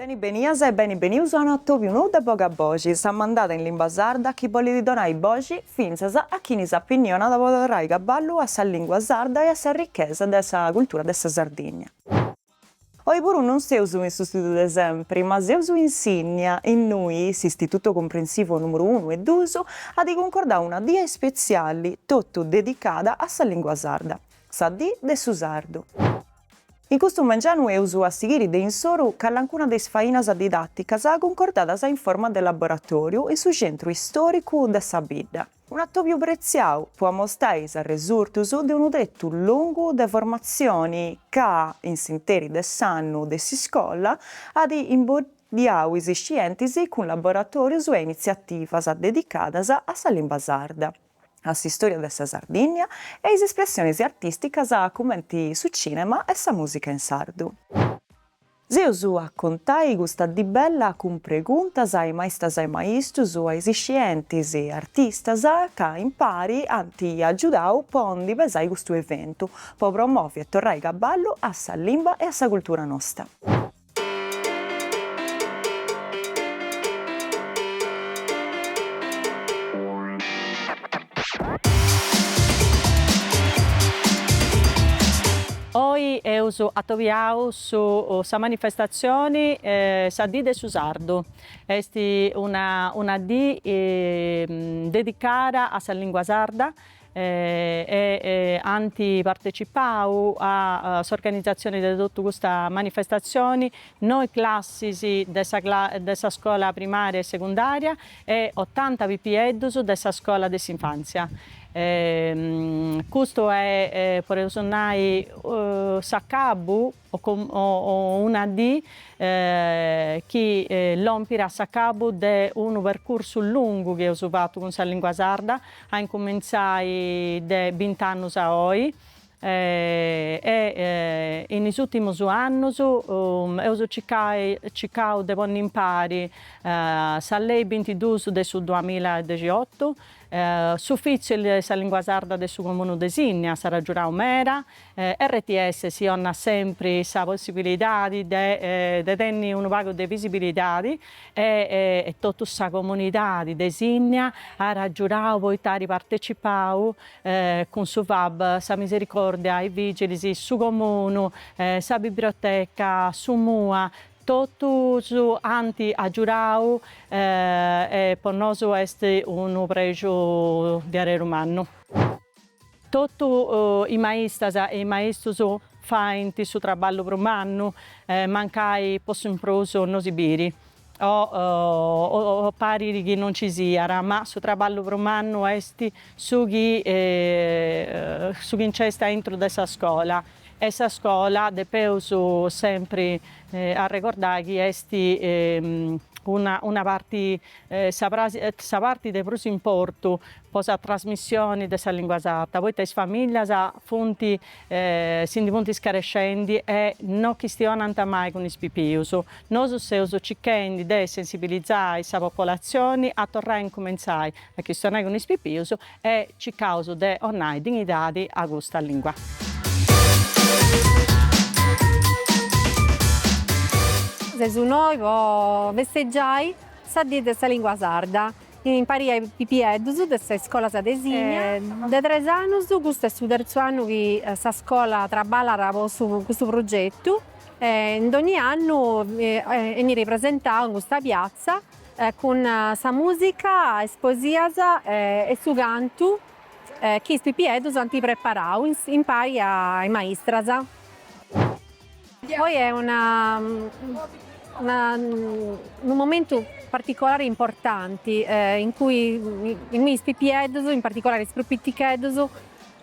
Beni benias e beni benius a unu atòbiu nou de Boga Boxi, sa mandada in limba sarda chi bolit donai boxi fintzas a chini s'apinnicat po torrai caballu a sa lingua sarda e a sa richesa de sa cultura de sa Sardigna. Oi puru non seus in su studiu de sempri, ma seus in Sinnia, innui s'Istituto Comprensivo numeru unu e duus at cuncordau una dì ispetziali totu dedicada a sa lingua sarda, sa Dì de su Sardu. In custu mengianu eus a sighiri de insoru calancuna de is fainas didàticas cuncordadas in forma de laboratòriu in su Centru Istòricu de sa Bidda, un'atòbiu pretziau po amostai is arresurtus de unu tretu longu de formatzioni ca, in s'interi de s'annu de s'iscola, at imboddiau is scientis cun laboratòrius e initziativas dedicadas a sa limba sarda. a s'istòria de sa Sardìnnia e a is espressiones artìsticas cumenti su cìnema e sa mùsica in sardu. Si eus a contai custa dì bella cun preguntas a is maistas e is maistus, a is iscientis, artistas, ca impari ant agiudau po ndi pesai custu eventu, po promovi e torrai cabballu a sa limba e a sa cultura nosta. Oi eus atobiausu sa manifestatzioni Sa dì de su sardu, est una una dì dedicada a sa lìngua sarda e ant partecipau a s'organizatzioni de totu custa manifestatzioni noi classis de sa de sa scola primària e secundària e otanta pipieddus de sa scola de s'infàntzia. Custu est, podeus nai, s'acabu o una dì chi lompit a s'acabu de unu percursu lungu chi eus fatu cun sa lìngua sarda, a incumintzai de bint'annus a oi, e in is ùrtimus annus eus circau de ponni impari sa lei bintiduus de su duamilla e dexiotu, s'Ufìtziu de sa Lìngua Sarda de su Comunu de Sinni s'at agiudau meda RTS si 'onat sempri sa possibilidadi de de tenni unu pagu de visibilidadi e e totu sa comunidadi de Sinnia at agiudau poita at partecipau cun su FAB sa Misericordia is Vigilis su comunu sa bibrioteca su MUA totus ant agiudau e po nosu est unu prexu diaderu mannu. Totu is maistas e is maistus faint su traballu prus mannu, mancai po su in prus no si biri o parit chi no nci siat, ma su traballu prus mannu est su chi su chi nc'est aintru de sa scola e sa scola depeus sempri arregordai chi est una una parti sa pratzi sa parti de prus importu po sa trasmissioni de sa lìngua sarda, poita is famìllias funt si ndi funt scarescendi e no chistionant mai cun is pipius. Nosu seus cichendi de sensibilizai sa popolatzioni a torrai a incumentzai a chistionai cun is pipius e cicaus de 'onai dignidadi a custa lìngua. Seus innoi po festeggiai sa dì de sa lìngua sarda Impari a is pipieddus de sa iscolas de Sìnnia. De tres annus, custu est su terzu annu chi sa scola traballat po su custu progetu e in dogni annu 'enit ripresentau in custa piazza cun sa musica, is poesias e su cantu chi is pipieddus ant preparau impari a is maistras. Oi est unu momentu particolari importanti in cui in mi is pipieddus, in particolari is prus piticheddus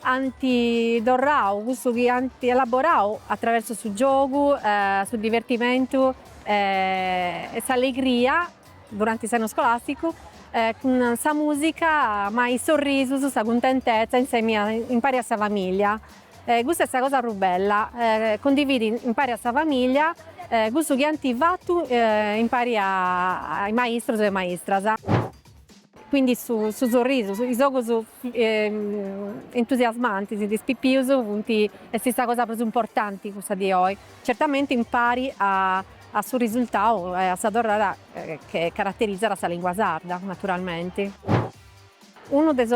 ant torrau cussu chi ant elaborau attraversu su giogu, su divertimentu e s'allegria duranti s'annu scolasticu cun sa musica ma is sorrisus, sa cuntentezza insemi impari a sa famiglia E custa est sa cosa prus bella, cundividi impari a sa famìllia cussu chi ant fatu impari a is maistrus e maistras. Quindi su su sorrisu, is ogus entusiasmantis de is pipius funt, est sa cosa prus importanti cussa de oi, certamenti impari a a su risultau e a sa torrada chi caraterizat a sa lingua sarda naturalmenti. Unu de is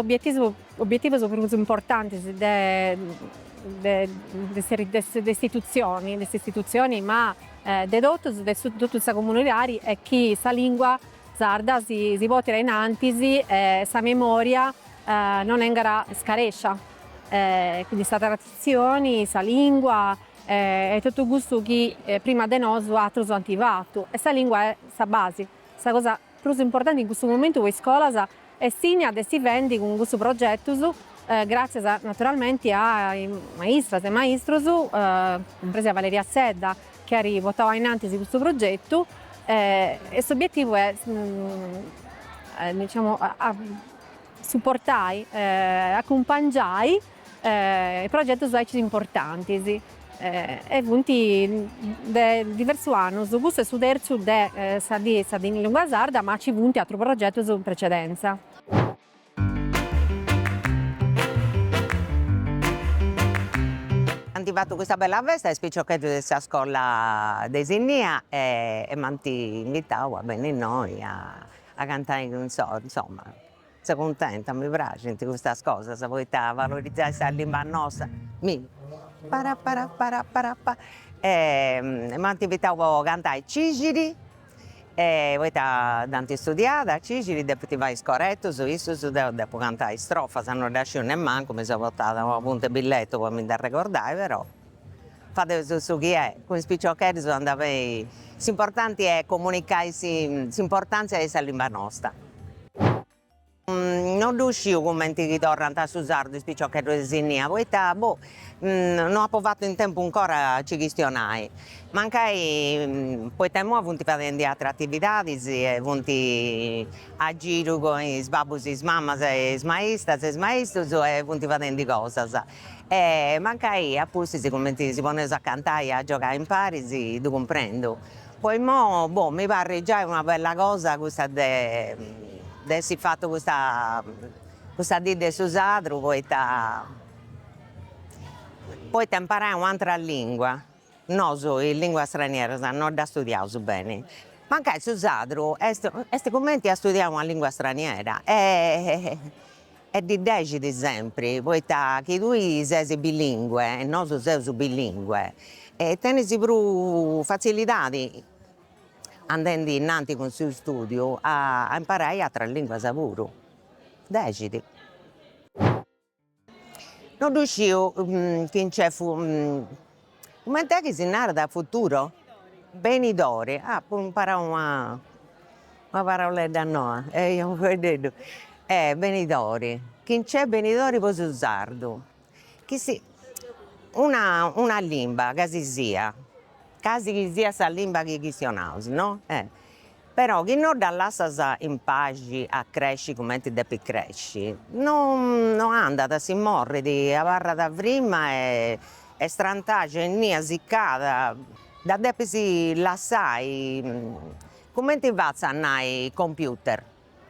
obietivus prus importantis de s'istitutzioni, ma de totus, de totu sa comunidadi, est chi sa lìngua sarda si portit a in antis e sa memòria non 'engat scarescia. Quindi sa traditzioni, sa lìngua e totu custu chi prima de nosu atrus ant fatu. E sa lìngua est sa basi, sa cosa Prus importanti in custu momentu po is scolas est Sìnnia de si fendi cun custus progetus, gràtzias naturalmenti a is maistras e maistrus, cumpresa Valeria Sedda chi at portau ainantis custu progetu e s'obietivu est diciamo a suportai, acumpangiai progetus aici importantis e funt de diversus annus, custu est su terzu de sa diesa in lingua sarda ma ci funt atrus progetus in precedenza. Ant fatu custa bella festa is piciocheddus de sa scola de Sinnia e m'ant invitau a benni innoi a cantai insomma Seu cuntenta, mi praxint custas cosas poita a valorizai sa limba nosta mi para para para para para e m'ant invitau a cantai Cixiri e poita dd'ant istudiada Cixiri depint fai is coretus, issus deu depu cantai is strofas, no ddas sciu nemmancu, mi seu portada un'apuntu, billetu po mi nd'arregordai però Fadeus su chi est, cun is piciocheddus andat beni, s'importanti est comunicai s'importàntzia de sa limba nosta. No ddu sciu cumenti chistionant su sardu is piciocheddus de Sìnnia, poita boh no apu fatu in tempus ancora a nci chistionai, mancai poita imoi funt fadendi ateras atividadis e funt a giru cun is babbus e is mamas e is maistas e is maistus e funt fadendi cosas E mancai a pustis cumenti si poneus a cantai e a giogai imparis ddu cumprendu. Po immoi, boh, mi parrit giai una bella cosa custa de de essi fatu custa custa dì de su sardu poita poita imparai un'atera lingua Nosu is lìnguas stranieras no ddas studiaus beni, mancai su sadru est est cumenti a studiai una lìngua straniera e e ddi dexit sempri, poita chi tui ses bilingue e nosu seus bilingue e tenis prus fatzilidadi andendi innanti cun su stùdiu a imparai atras lìnguas puru, dexit No ddu isciu chi nc'est comenti est chi si narat futuro? Benidori, apu imparau una una paraulledda noa e deu unu fueddeddu e benidori, chi nc'est benidori po su sardu, chi si una una limba ca si siat ca si chi siat sa limba chi chistionaus no Però chi no ddas lassas in paxi a cresci cumenti depit cresci, no no andat, si morit, abarrat frimma e e strantaxia innia sicada, dda depis lassai, cumenti fatzu a nai computer,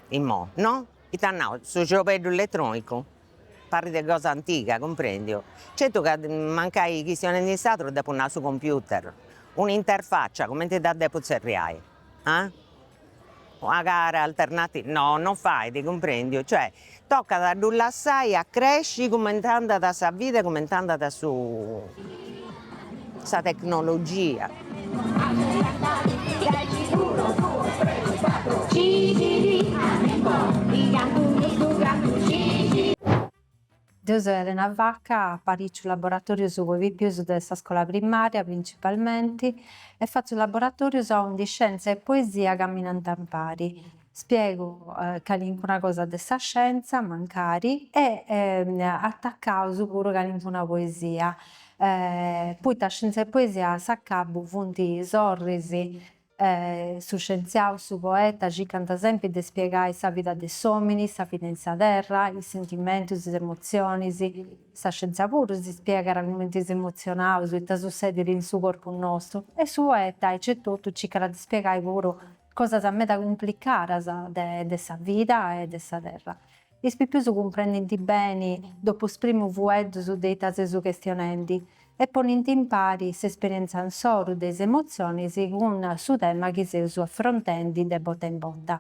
imoi no, ita nau, su ciorbeddu eletronicu Parit cosa antiga, cumprendiu. Certu ca mancai chistionendi in sardu depu nai su computer, un'interfaccia, cumenti dda depu tzerriai? Ah? Una cara alternativa? No, non fait, cumprendiu, cioè tocat a ddu lassai a cresci cumenti andat sa vida e cumenti andat su. sa tecnologia. Deu seu Elena Vacca, apariciu laboratorius po is pipius de sa scola primaria principalmenti e fatzu laboratorius aundi scienza e poesia caminanta impari. Spiegu calincuna cosa de sa scienza, mancari, e atacaus puru calincuna poesia, poita scienza e poesia a s'acabu funt sorris, su scientziau, su poeta circant sempri de spiegai sa vida de s'omini, sa vida in sa terra, is sentimentus, is emotzionis, sa scienza puru si spiegat cumenti s'emozionaus, ita sussedit in su corpu nostu, e su poeta aici e totu circat de spiegai puru Cosas meda cumplicadas de sa vida e de sa terra. Is pipius cumprendint beni de is primus fueddus de ita seus chestionendi e ponint impari s'esperienza insoru de is emotzionis cun su tema chi seus afrontendi de bota in bota.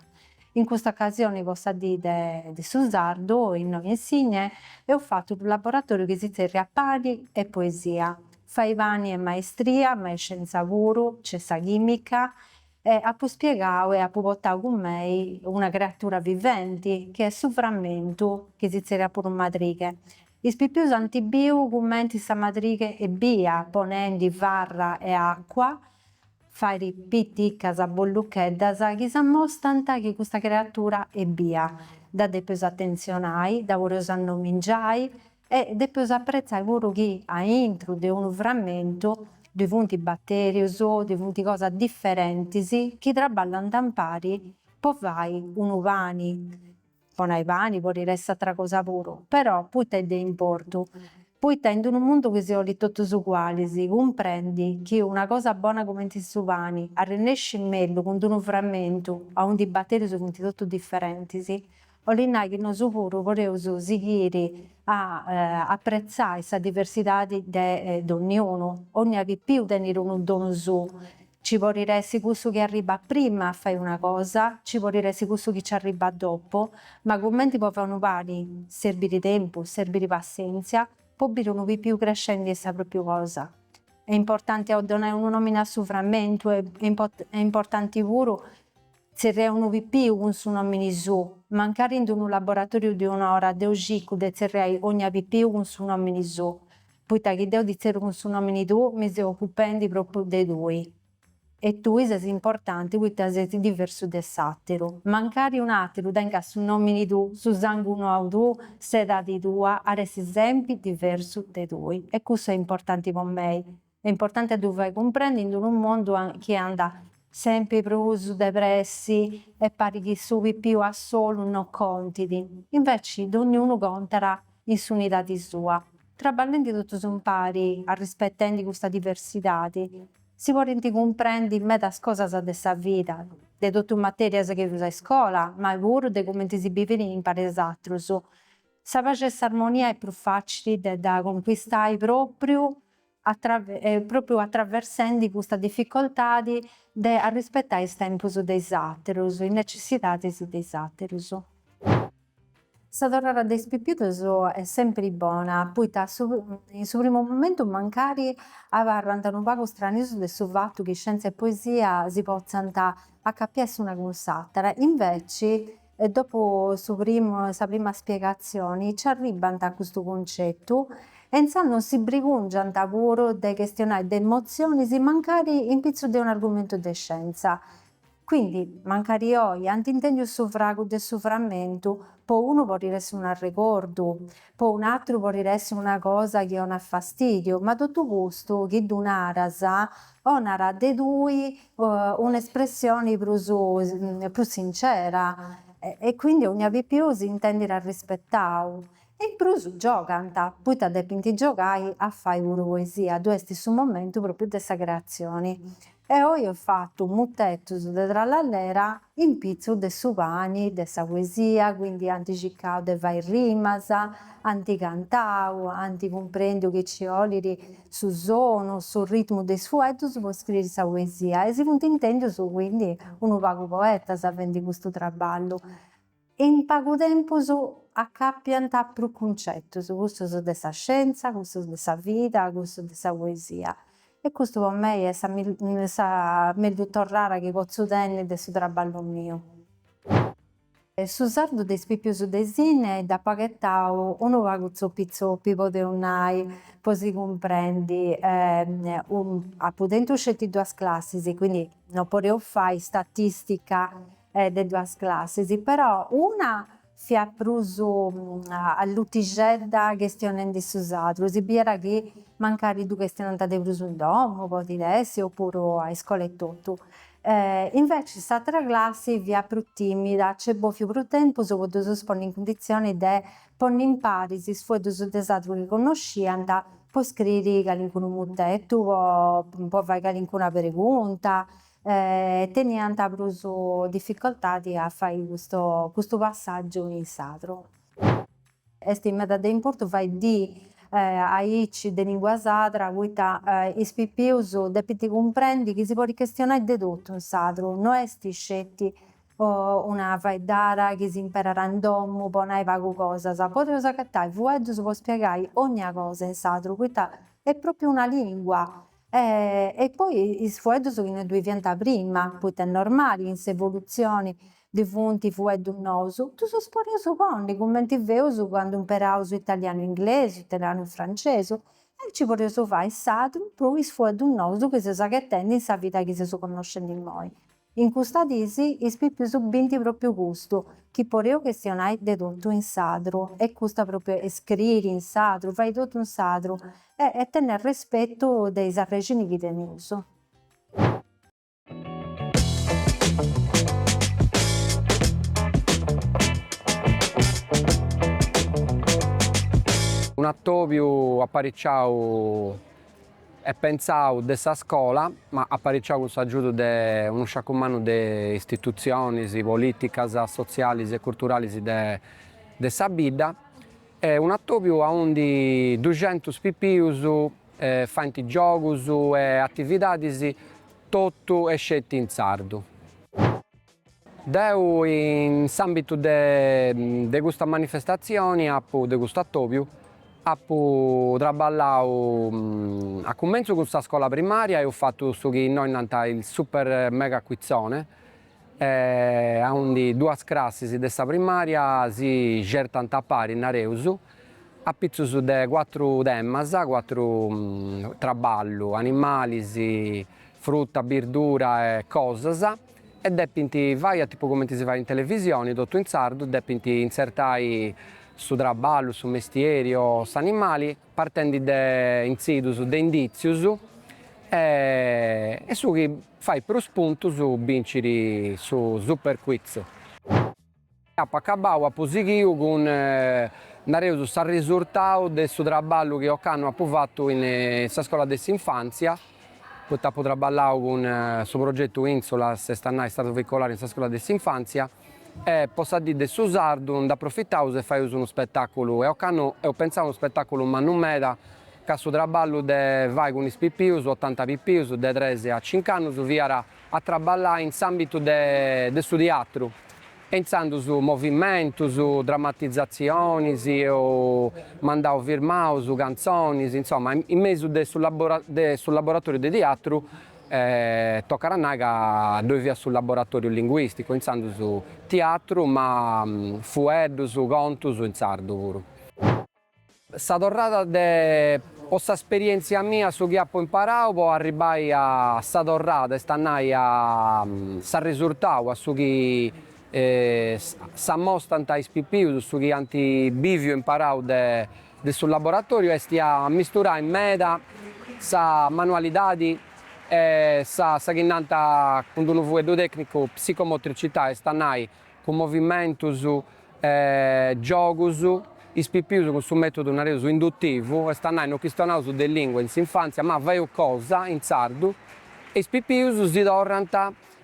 In custa ocasioni po sa dì de su sardu innoi in Sìnnia eus fatu unu laboratoriu chi si tzerriat Pani e poesia, fai pani est maestria, ma est scienza puru, nc'est sa chimica, E apu spiegau e apu portau cun mei una creatura viventi chi est su framentu chi si zerriat puru madrighe. Is pipius ant biu cumenti sa madrighe est bia, ponendi farra e acua, fait piticas bollucheddas chi s'ammostant chi custa creatura est bia, dda depeus atentzionai, dda podeus annomingiai, E depeus apretzai puru chi a intru de unu framentu ddoi funt batèrius, ddoi funt cosas diferentis chi traballant impari po fai unu pani, po nai pani, podit essi atra cosa puru, però poita est de importu? Poita in unu mundu chi si 'olit totus ugualis, cumprendi chi una cosa bona cumenti su pani arrenescit mellus cun d-unu framentu aundi is batèrius funt totus diferentis, Olit nai chi nosu puru podeus sighiri a apretzai sa diversidadi de donniunu. Onnia pipiu tenit unu donu suu. Ci podit essi cussu chi arribbat prima a fai una cosa, ci podit essi cussu chi ci arribbat dopu, ma cumenti po fai unu pani serbit tempus, serbit passenzia, po biri unu pipiu crescendi est sa propriu cosa. Est importanti a donai unu nomini a su frammentu est importanti puru. Tzerrai unu pipiu cun su nòmini suu, mancari in d-unu laboratòriu de un'ora deu cicu de tzerrai ogna pipiu cun su nòmini suu, poita chi deu ti tzerru cun su nòmini tuu mi seu ocupendi propriu de tui e tui ses importanti poita ses diversu de s'àteru, mancari un'àteru tengat su nòmini tuu, su sangunau tuu, s'edadi tua, at essi sempri diversu de tui e cussu est importanti po mei. Est importanti a ddu fai cumprendi in unu mondu chi andat sempri prus de pressi e parit chi su pipiu a solu no contit. Inveci dogniunu contat in s'unidadi sua. Traballendi totus impari, arrispetendi custa diversidadi, si podint cumprendi medas cosas de sa vida, de totu is materias chi funt a iscola, ma puru de cumenti si bivit impari a is atrus. Sa paxi e s'armonia est prus facili de dda conquistai propriu pròpriu atraversendi custa dificoltadi de arrispetai is tempus de is aterus, is necessidadis de is aterus. Sa torrada de is pipius est sempri bona, poita in su primu momentu mancari abarrant unu pagu stranius de su fatu chi scientzia e poesia si potzant acapiai s'una cun s'atera, inveci, dopu su sa prima spiegatzioni nci arribbant a custu cuncetu e intzandus non si brigùngiant puru de chestionai de emotzionis mancari in pitzus de un'argumentu de scientza. Quindi, mancari oi ant intèndiu su fragu de su frammentu po unu podiri essi un'arregordu, Po un'atru podit essi una cosa chi 'onat fastidiu, ma totu custu chi ddu naras 'onat de tui un'espressioni prus prus sincera e quindi 'onnia pipiu s'intendit arrispetau. In prus giogant, poita depint giogai a fai puru poesia, ddu est su momentu propriu de sa creatzioni. E oi eus fatu mutetus de trallallera in pitzus de su pani de sa poesia, quindi ant circau de fai rimas, ant cantau, ant cumprendiu chi nci 'olit su sonu, su ritmu de is fueddus po scriri sa poesia e si funt intendius quindi unu pagu poetas fendi custu trabballu. In pagu tempus acàpiant prus cuncetus, cussus de sa scienza, cussus de sa vida, cussus de sa poesia. E custu po mei est sa mellus torrara chi potzu tenni de su trabballu miu. Su sardu de is pipius de Sìnnia dd'apu agatau unu pagu zoppi zoppi, podeus nai, po si cumprendi. Apu tentu sceti duas classis, quindi non podeus fai statistica e de duas classis però una fiat prus allutixedda chestionendi su sardu si biiat chi mancari ddu chestionant de prus in domu podit essi o puru a iscola etotu inveci s'atra classi fiat prus timida nc'est bòfiu prus tempus po ddus ponni in cunditzioni de ponni impari is fueddus de sardu chi connosciant po scriri calincunu mutetu po fai calincuna pregunta teniant prus dificoltadi a fai custu custu passàgiu in sardu. Est meda de importu fai diis aici de lìngua sarda poita is pipius depint cumprendi chi si podit chistionai de totu in sardu, no est sceti una faeddara chi s'imperat in domu po nai pagu cosas, podeus agatai fueddus po spiegai ogna cosa in sardu poita est pròpriu una lìngua E poi is fueddus chi no ddui fiant prima, poita est normali in s'evolutzioni ddui funt fueddus nous, ddus podeus ponni, cumenti feus candu imperaus italianu inglesu, italianu francesu, e aici podeus fai in sardu, po is fueddus nous chi seus agatendi in sa vida chi seus connoscendi immoi. In custas diis is pipius bint propriu custu, chi podeus chestionai de totu in sadru, e custu propriu e scriri in sadru, fai totu in sadru, e tenni arrespetu de is arrexinis chi teneus. Un'atobiu apparicciau e pentzau de sa scola, ma apariciau cun s'agiudu de unu sciacu mannu de istitutzionis polìticas, sotzialis e curturalis de sa bidda, est un'atòbiu aundi duxentus pipius faint giogus e atividadis totu e sceti in sardu. Deu in s'àmbitu de custa manifestatzioni apu, de custu atòbiu, apu traballau a cumentzu cun sa scola primària, eus fatu su chi innoi nant il super mega quizzone, aundi duas crassis de sa primària si xertant a pari, nareus, apitzus de cuatru temas, cuatru traballu, animalis, fruta, birdura e cosas. e depint fai a tipu comenti si fait in televisioni, totu in sardu, depint intzertai su traballu, su mestieri o s'animali partendi de intzidus de inditzius e e su chi fait prus puntus bincit su Superquiz. Apo acabau, apu sighiu cun, nareus, s'arrisurtau de su traballu chi ocannu apu fatu in sa scola de s'infantzia, poita apu traballau cun su progetu Insulas, est a nai sardu veicolari in sa scola de s'infantzia, e po sa dì de su sardu nd'aprofitaus e faius unu spetàculu, e ocannu eus pentzau a unu spetàculu mannu meda, ca su traballu de fai cun is pipius, otanta pipius, de tres a cinc'annus, fiat a traballai in s'àmbitu de su tiatru, intzandus movimentus, dramatizatzionis o mandaus firmaus, cantzonis, insoma, in mesu de su laboratòriu de tiatru, tocat a nai ca ddoi fiat su laboratòriu linguìsticu, intzandus tiatru ma fueddus, contus in sardu puru. Sa torrada po s'asperièntzia mia su chi apo imparau po arribbai a sa torrada est a nai a s'arresurtau a su chi s'amostant is pipius su chi ant biviu e imparau de de su laboratòriu est a misturai meda sa manualidadi e sa sa chi nant cun d'unu fueddu tècnicu psicomotricità est a nai cun movimentus, giogus, is pipius cun su mètodu nareus indutivu, est a nai no chistionaus de lìngua in s'infàntzia, ma faeus cosa in sardu e is pipius si torrant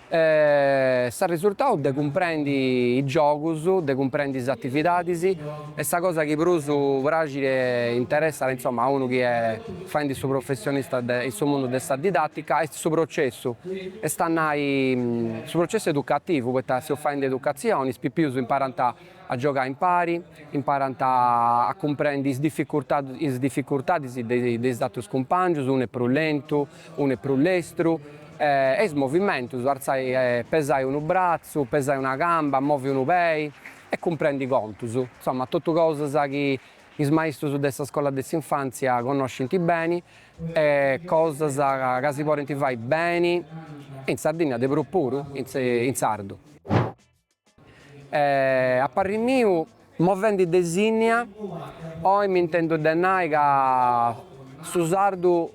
s'arresurtau de cumprendi is giogus, de cumprendi is atividadis, e sa cosa chi prus praxit e interessat, insoma, a unu chi est Faendi su professionista in su mundu de sa didàtica est su processu, est a nai su processu educativu, poita seus faendi educatzioni, is pipius imparant a giogai impari, imparant a cumprendi is is dificurtadis de de is àterus cumpàngius, unu est prus lentu, unu est prus lestru, e is movimentus, artzai, pesai unu bratzu, pesai una camba, movi unu pei, e cumprendi contus, insoma, totu cosas chi Is maistrus de sa scola de s'infàntzia connoscint beni e cosas ca si podint fai beni in Sardinnia, de prus puru in sardu. E a parri miu, movendi de Sìnnia, oi m'intendu de nai ca su sardu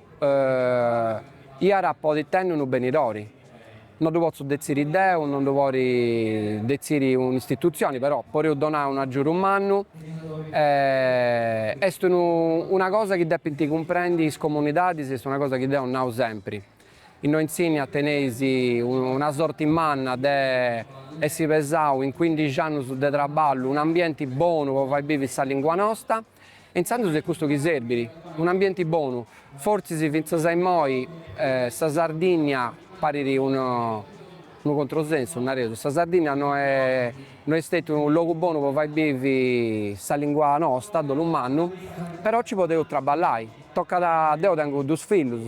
iat a podi tenni unu benidori. No ddu potzu detziri deu, no ddu pori detziri un'istitutzioni, però poreus donai unu agiudu mannu, est unu una cosa chi depint cumprendi is comunidadis, est una cosa chi deu nau sempri, innoi in Sìnnia teneis una sorti manna de essi pesau in cuindixi annus de traballu un'ambienti bonu po fai bivi sa lingua nosta, Intzandus est custu chi serbit, un'ambienti bonu, fortzis fintzas a immoi sa Sardinnia parit unu controsensu, nareus, sa Sardinnia no est stetiu unu logu bonu po fai bivi sa lingua nosta, dolu mannu, però nci podeus traballai, tocat, deu tengu dus fillus,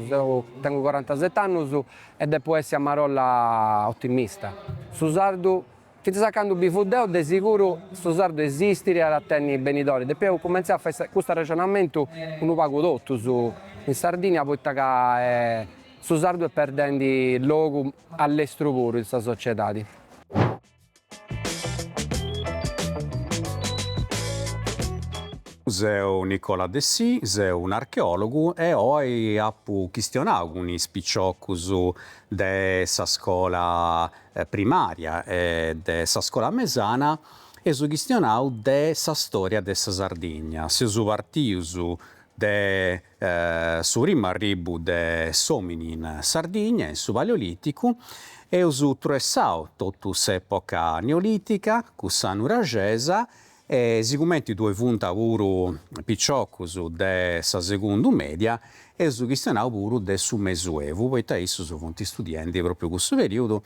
tengu corantaset'annus e depu essi a marolla otimista, su sardu Fintzas a candu bivu deu, de siguru su sardu esistit, at a tenni benidori, depoi eus cumentzau a fai custu arrexonamentu unu pagu totus in Sardigna, poita ca su sardu est perdendi logu a lestru puru in sa sociedadi. Seu Nicola Dessì, seu un'archeòlogu e oi apu chistionau cun is piciocus de sa scola primària e de sa scola mesana, eus chistionau de sa stòria de sa Sardigna, seus partius de su primu arribbu de s'òmini in Sardigna, in su Paleolìticu, eus truessau totu s'època neolìtica, cussa nuraxesa E sigumenti ddui funt puru piciocus de sa segundu media, eus chistionau puru de su mesuevu, poita issus funt istudiendi propriu cussu periudu,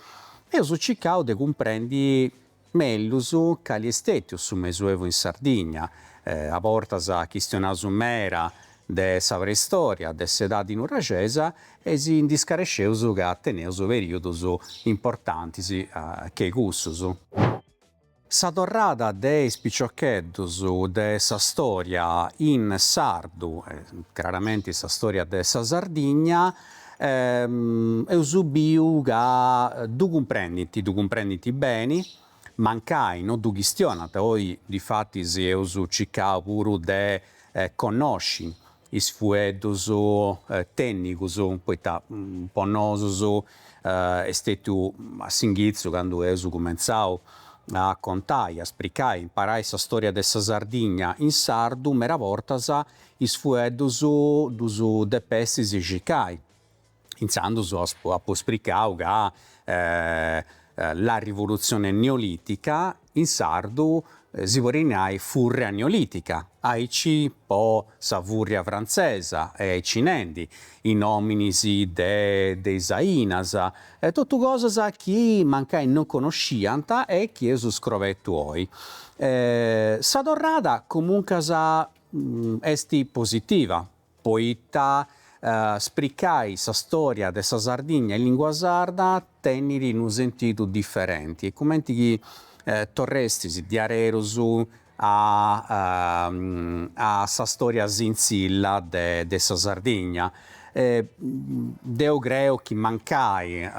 eus circau de cumprendi mellus cali est stetiu su mesuevu in Sardigna, a bortas chistionaus meda de sa preistoria, de s'edadi nuraxesa e si ndi scaresceus ca teneus periudus importantis che cussus. Sa torrada de is piciocheddus de sa storia in sardu, craramenti sa storia de sa Sardigna, eus biu ca ddu cumprendint, ddu cumprendint beni, mancai no ddu chistionant, oi difatis eus circau puru de connosci is fueddus tènnicus, poita po nosus est stètiu a s'inghitzu candu eus cumentzau a contai, a spricai e imparai sa storia de sa Sardigna in sardu, mera bortas is fueddus ddus depestis circai. Intzandus apo spricau ca la rivolutzione neolitica in sardu si podet nai furria neolitica, aici po sa furria frantzesa e aici nendi, is nòminis de de is ainas, totu cosas chi mancai non conosciant e chi eus scobertu oi. Sa torrada comuncas est positiva. Poita spricai sa stòria de sa Sardigna in lìngua sarda tenit unu sentidu diferenti est cumenti chi torrestis diaderus a a sa stòria sintzilla de de sa Sardigna. Deu creu chi mancai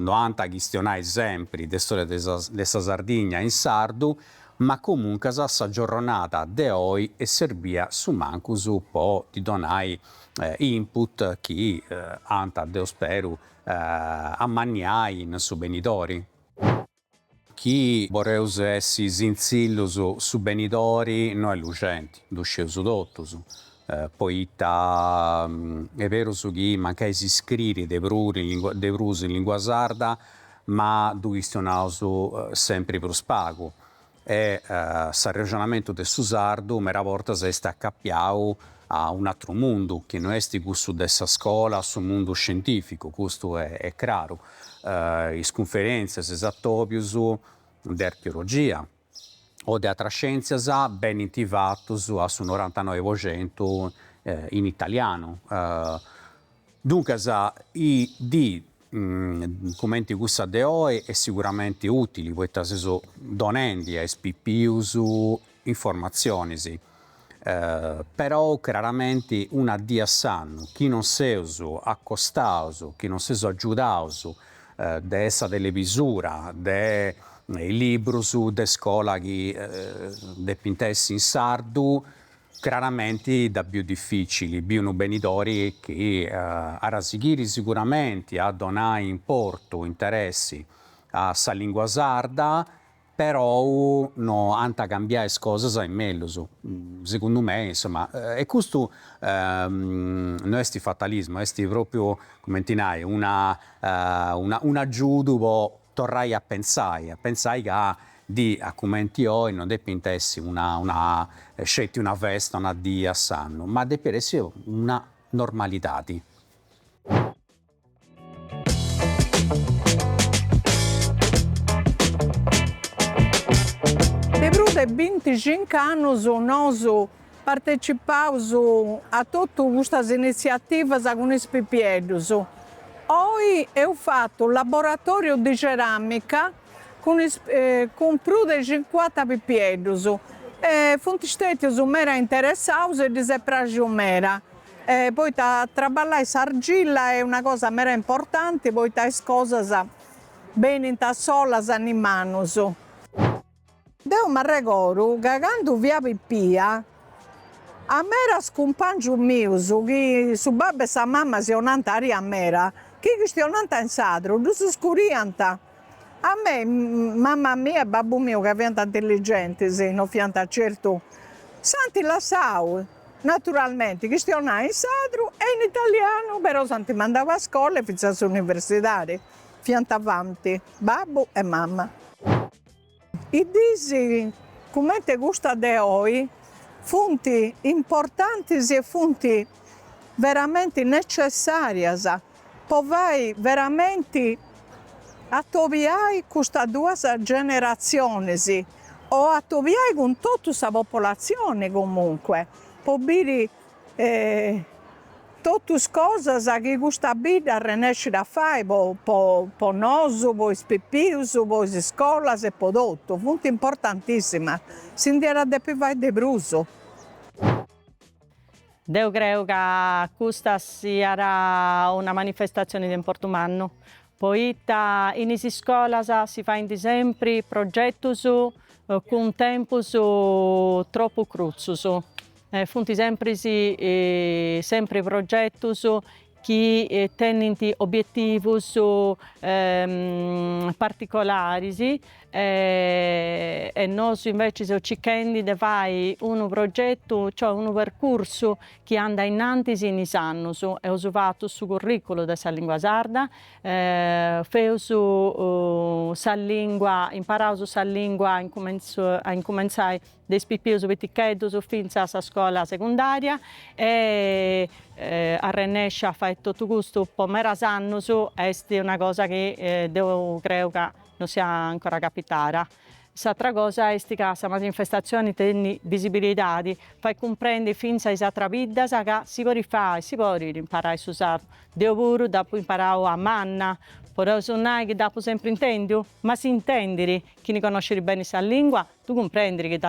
no ant a chistionai sempri de stòria de sa de sa Sardigna in sardu Ma comuncas sa giorronada de oi est serbia su mancus po ddi donai input chi ant deu speru amanniai in su benidori. Chi boreus essi sintzillus su benidori no est luxenti, ddu scieus totus, poita est berus chi mancai s'iscririt de prus in lingua sarda ma ddu chistionaus sempri prus pagu e s'arrexonamentu de su sardu meda bortas est acapiau a un'atru mundu chi no est cussu de sa scola, su mundu scientificu, custu est craru, is cunferentzias, is atobius de archeologia. o de atras scièntzias benint fatos a su norantanoi po centu in italianu. Duncas dis cumenti cussa de oe est siguramenti ùtili poita seus donendi a is pipius informatzionis perou craramenti una die a s'annu chi non seus accostaus, chi non seus agiudaus de sa televisura, de is librus de iscola chi depint essi in sardu, craramenti dda biu dificili, biu unu benidori chi at a sighiri siguramenti a donai importu, interessi a sa lingua sarda perou no ant a cambiai is cosas in mellus, segundu mei, insoma, e custu no est fatalismu, est propriu, cumenti nai, una una un'agiudu po torrai a pentzai, a pentzai ca dì a cumenti oi no depint essi una una sceti una festa, una dì a s'annu, ma depit essi una normalidadi. De prus de binti cincu annus nosu partecipaus a totu custas iniziativas cun is pipieddus. Oi eus fatu laboratoriu de ceramica cun prus de cincuanta pipieddus e funt stetius meda interessaus e ddis est praxiu meda. Poita traballai s'argilla est una cosa meda importanti poita is cosas benint solas in manus. Deu m'arregodu ca candu fia pipia a medas cumpangius mius chi su babbu e sa mama si 'onant aria meda, chi chistionant in sardu, ddus scuriant A mei, mamma mia e babbu miu ca fiant intelligentis, no fiant certu, s'ant lassau, naturalmenti, chistionai in sardu e in italianu, però s'ant mandau a iscola e fintzas a s'universidadi, fiant avanti babbu e mamma. Is dis cumenti custas de oi funt importantis e funt veramenti necessàrias po fai veramenti atobiai custas duas generatzionis o atobiai cun totu sa populatzioni comunque po biri totu is cosas chi custa bidda arrenescit a fai po po nosu, po is pipius, po is iscolas e po totu, funt importantissimas, si ndi iat a depi fai de prus. Deu creu ca custa siat una manifestatzioni de importu mannu, poita in is iscolas si faint sempri progetus cun tempus tropu crutzus, Funt sempris sempri progetus chi tenint obietivus particolaris e nosu inveci seus circhendi de fai unu progetu, cioè unu percursu chi andat innantis in is annus. Eus fatu su curriculu de sa lingua sarda, feus sa lingua, imparaus sa lingua a incumentzai de is pipius piticheddus fintzas a sa iscola segundaria e arrennesci a fai totu custu po meras annus esti una cosa chi deu creu ca non sia ancora capitara. S'atra cosa esti ca sa manifestatzioni tenni bisibilidadi, fait cumprendi fintzas a is atras biddas ca si podit fai, si podit imparai su sardu, deu puru dd'apu imparau a manna, podeus nai chi dd'apu sempri intendiu, ma si intendiri chini connosciri beni sa lingua Tu cumprendi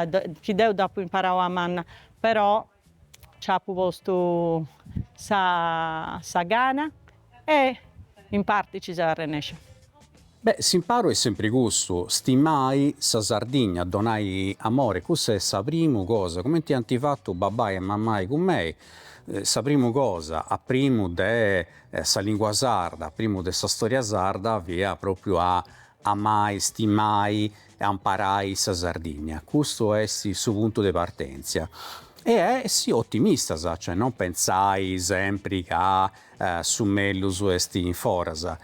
chi deu dd'apu imparau a manna però c'apu postu sa sa gana e in parti ci seu arrennescia. Beh, s'imparu est sempri custu, stimai sa Sardigna, donai amore, cussa est sa primu cosa, cumenti ant fatu babbai e mammai cun mei, sa primu cosa a primu de sa lingua sarda, a primu de sa storia sarda fiat propriu a Amai, stimai e amparai sa Sardìnnia, custu est su puntu de partèntzia e essi otimistas, cioè non pentzai sempri ca su mellus est in foras.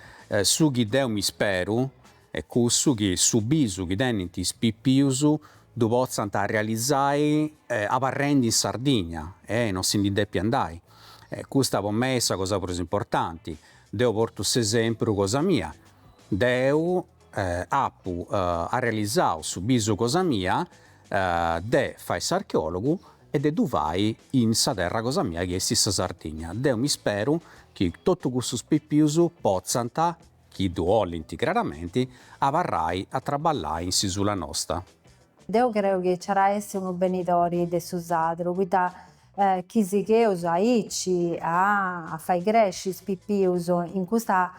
Su chi deu m'isperu est cussu chi su bisu chi tenint is pipius ddu potzant arrealizai abarrendi in Sardìnnia e non si ndi depi andai. Custa po mei est sa cosa prus importanti. Deu portu s'esempru cosa mia, Deu apu arrealizau su bisu cosa mia de fai s'archeòlogu e de ddu fai in sa terra cosa mia chi est sa Sardigna. Deu m'isperu chi totu cussus pipius potzant, chi ddu 'olint craramenti, abarrai a traballai in s'isula nosta. Deu creu chi nci at a essi unu benidori de su sadru, poita Chi sigheus aici a fai cresci is pipius in custa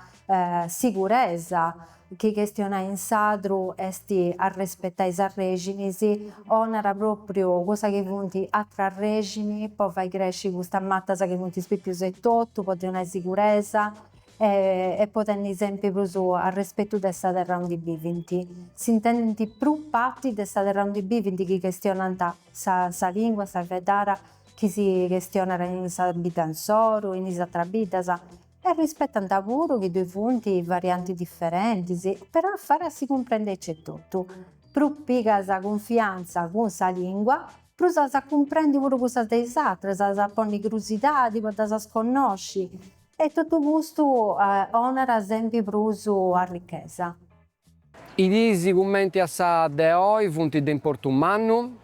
siguresa chi chestionai in sadru est arrespetai is arrèxinis donat pròpriu cussa chi funt atr'arrèxini po fai cresci custas matas chi funt is pipius etotu po ddi donai siguresa e po tenni sempri prus arrespetu de sa terra undi bivint. S'intendint prus parti de sa terra undi bivint chi chestionant Sa lìngua sa fueddada chi si chestionat in sa bidda insoru, in is atras biddas, e rispetant puru chi ddoi funt variantis diferentis, però fait a si cumprendi etotu. Prus pigas cunfiantza cun sa lìngua, prus as a cumprendi puru cussas de is atras, as a ponni crusidadi po ddas connosci, e totu custu donat sempri prus arrichesa. Is diis cumenti a sa de oi funt de importu mannu,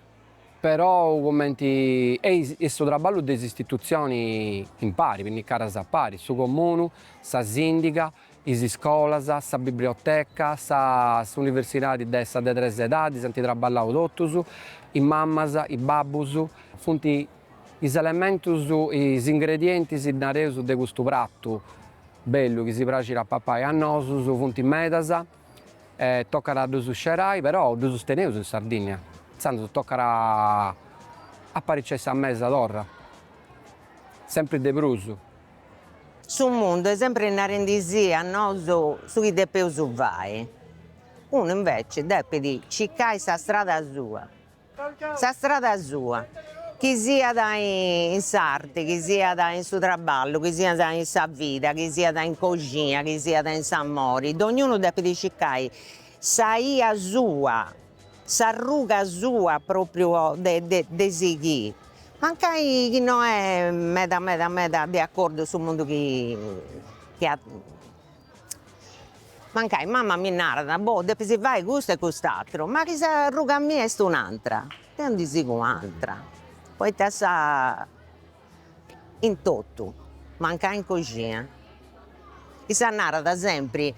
perou cumenti est su traballu de is istitutzionis impari, pinnigadas a pari, su comunu, sa sìndiga, is iscolas, sa biblioteca, sa s'universidadi de sa de tres edadis, ant traballau totus, is mamas, is babbus, funt is elementus, is ingredientis, nareus, de custu pratu. Bellu chi si praxit a papai a nosus funt medas e tocat a ddus scerai, però ddus teneus in Sardìnnia, intzandus tocat a apariciai sa mesa torra, sempri de prus. Su mundu est sempri narendi·sì a nosu su chi depeus fai, unu inveci depit circai sa strada sua. Sa strada sua, chi siat in s'arti, chi siat in su traballu, chi siat in sa vida, chi siat in coxina, chi siat in s'amori, dognunu depit circai sa 'ia sua, s'arruga sua pròpriu de sighiri, mancai chi no est meda meda meda de acordu su mundu chi nc'at Mancai mama mi narat, boh, depis fai custu e cust'atru, ma chi s'arruga mia est un'atra, deo ndi sigu un'atra, poita aici in totu, mancai in coxina, issa narat sempri,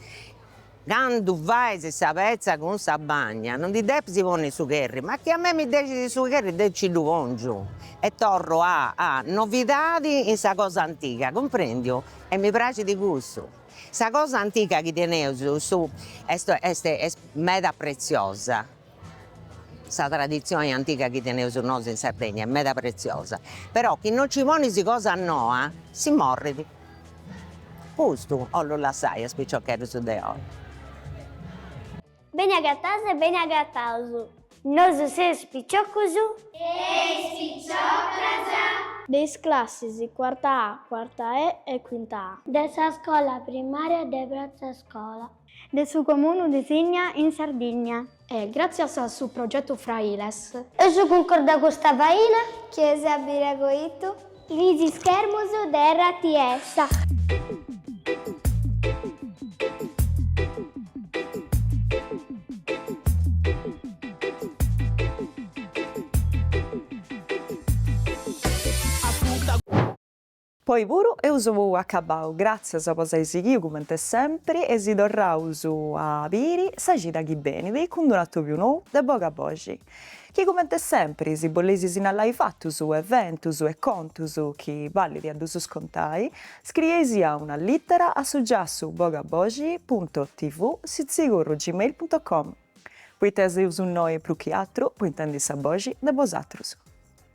candu fais sa petza cun sa bagna no ndi depis ponni su cherri, ma chi a mei mi dexit su cherri deo nci ddu pongiu e torru a novidadi in sa cosa antiga, cumprendiu E mi praxit cussu. Sa cosa antiga chi teneus nosu est est est meda pretziosa, sa traditzioni antiga chi teneus nosu in Sardegna est meda pretziosa, però chi non ci ponis cosa noa si morrit. Custu 'ollu lassai a is piciocheddus de oi. Beni agatadas e beni agataus. Nosu seus piciocos. E is piciocas. De is classis cuarta A, cuarta E e cuinta A. De sa scola primaria de Pratza Scola. De su Comunu de Sìnnia in Sardigna. E gràtzias a su progetu Frailes. Eus cuncordau custa faina. Chi eis a biri a coitu. Is ischermus de rts. Po oi puru eus acabbau. Gràtzias po si ai sighiu cumenti sempri e si torraus a biri sa cida chi benit cun d'un'atobiu nou de Boga Boxi. Chi cumenti sempri si boleis sinnalai fatus eventus e contus chi balit a ddus contai, scriei·sì una littera a su giassu bogaboxi punto TV sitzigorru gmail punto com, poita seus innoi prus chi atru po intendi sa boxi de bosatrus.